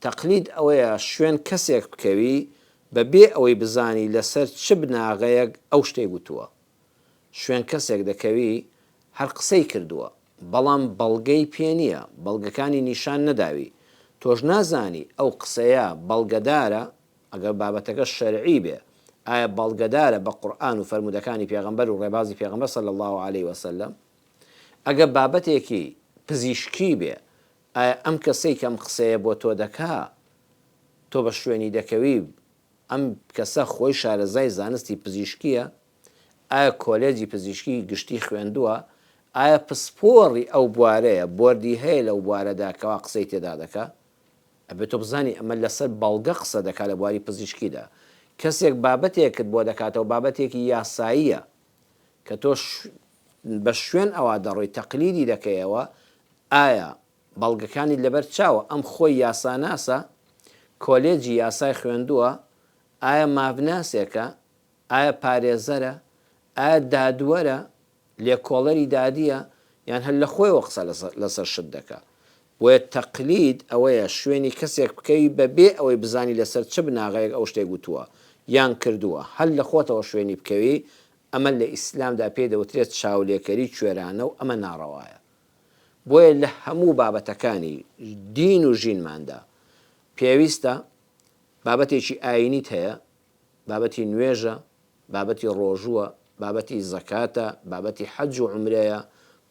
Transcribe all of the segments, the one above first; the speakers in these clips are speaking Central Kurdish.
تەقلید ئەوەیە شوێن کەسێک بکەوی بە بێ ئەوەی بزانی لە سەر چ بناغەیەک ئەو شتەی گوتووە. شوێن کەسێک دەکەوی هەر قسەی کردووە بەڵام بەڵگەی پێ نییە، بەڵگەکانی نیشان نەداوی، تۆش نازانی ئەو قسەیە بەڵگەدارە ئەگەر بابەتەکە شەرعی بێ ئایا بەڵگەدارە بە قورئان و فەرموودەکانی پێغەمبەر و ڕێبازی پێغەمبەر صلی اللە علیە وسلم؟ ئەگە بابەتێکی پزیشکی بێ ئایا ئەم کەسەی کە ئەم قسەیە بۆ تۆ دەکا تۆ بە شوێنی دەکەوی؟ ئەم کەسە خۆی شارەزای زانستی پزیشکییە؟ ئایا کۆلێجی پزیشکی گشتی خوێندووە؟ ئایا پسپۆڕی ئەو بوارەیە، بۆردی هەیە لەو بوارەدا کەوا قسەی تێدا دەکا؟ ئەبێ تۆ بزانی ئەمە لەسەر بەڵگە قسە دەکا لە بواری پزیشکیدا. کەسێک بابەتێکت بۆ دەکاتەوە بابەتێکی یاساییە. کە تۆ بە شوێن ئەوا دەڕۆی تەقلیدی دەکەیەوە ئایا بەڵگەکانیت لەبەر چاوە ئەم خۆی یاساناسە کۆلێجی یاسای خوێندووە ئایا مافناسێکە ئایا پارێزەرە ئایا دادوەرە لێکۆڵەری دادیە یان هەر لە خۆیەوە قسە لەسەر شت دەکا بۆیە تەقلید ئەوەیە شوێنی کەسێک بکەوی بە بێ ئەوەی بزانی لەسەر چ بناغەیەک ئەو شتێک وتووە یان کردووە هەر لە خۆتەوە شوێنی بکەوی ئەمە لە ئیسلامدا پێی دەوترێت چاولێکەری کوێرانە و ئەمە ناڕەوایە بۆیە لە هەموو بابەتەکانی دین و ژینماندا پێویستە بابەتێکی ئاینیت هەیە بابەتی نوێژە، بابەتی ڕۆژووە، بابەتی زەکاتە، بابەتی حەج و عومرەیە،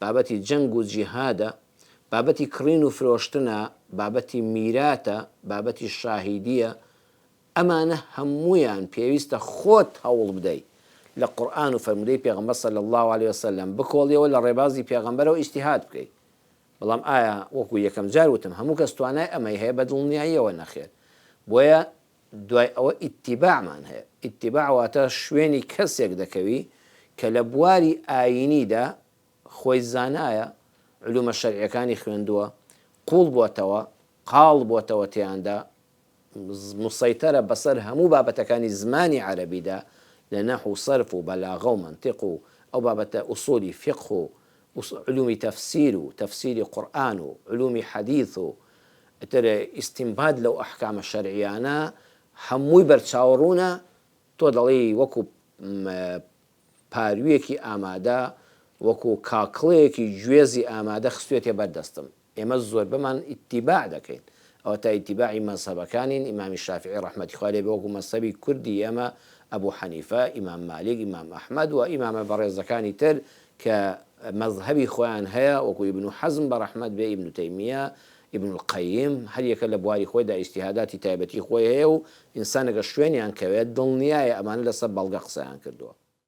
بابەتی جەنگ و جیهادە، بابەتی کڕین و فرۆشتنە، بابەتی میراتە، بابەتی شاهیدییە، ئەمانە هەموویان پێویستە خۆت هەوڵبدەی لە قورئان و فەرموودەی پێغەمبەر صلی اللە علیە وسلم بکۆڵیەوە لە ڕێبازی پێغەمبەرەوە ئیجتیهاد بکەی بەڵام ئایا وەکو یەکەم جار وتم هەموو کەس توانای ئەمەی هەیە بەدڵنیاییەوە نەخێر بۆیە دوای ئەوە ئیتیباعمان هەیە، ئیتیباع واتە شوێنی کەسێک دەکەوی کە لە بواری ئایینیدا خۆی زانایە، علومە شەرعیەکانی خوێندووە، قوڵ بۆتەوە، قاڵ بۆتەوە تێیاندا، مسەیتەرە بەسەر هەموو بابەتەکانی زمانی عەرەبیدا لە نەحو و سەرف و بەلاغە و مەنتیق و ئەو بابەتە ئوسولی فیقه و علومی تەفسیر و تەفسیری قورئان و علومی حەدیث و ئیتر ئیستینباد لەو ئەحکامە شەرعییانە هەمووی بەرچاو ڕوونە، تۆ دەڵێی وەکو پاروویەکی ئامادە، وەکو کاکڵەیەکی گوێزی ئامادە خستوویەتیە بەر دەستم، ئێمە زۆربەمان ئیتیباع دەکەین، ئەوەتا ئیتیباعی مەزهەبەکانین، ئیمامی شافیعی ڕەحمەتی خوای لێ بێ وەکو مەزهەبی کوردی ئێمە ئەبو حەنیفە، ئیمام مالیک، ئیمام ئەحمەد و ئیمامە بەڕێزەکانی تر کە مەزهەبی خۆیان هەیە وەکو ئیبن حەزم بە ڕەحمەت بێ، ئیبن تەیمیە، ئیبن القەییم هەر یەکە لە بواری خۆیدا ئیجتیهاداتی تایبەتی خۆی هەیە و ئینسان ئەگەر شوێنیان کەوێت دڵنیایە ئەمانە لەسەر بەڵگە قسەیان کردووە.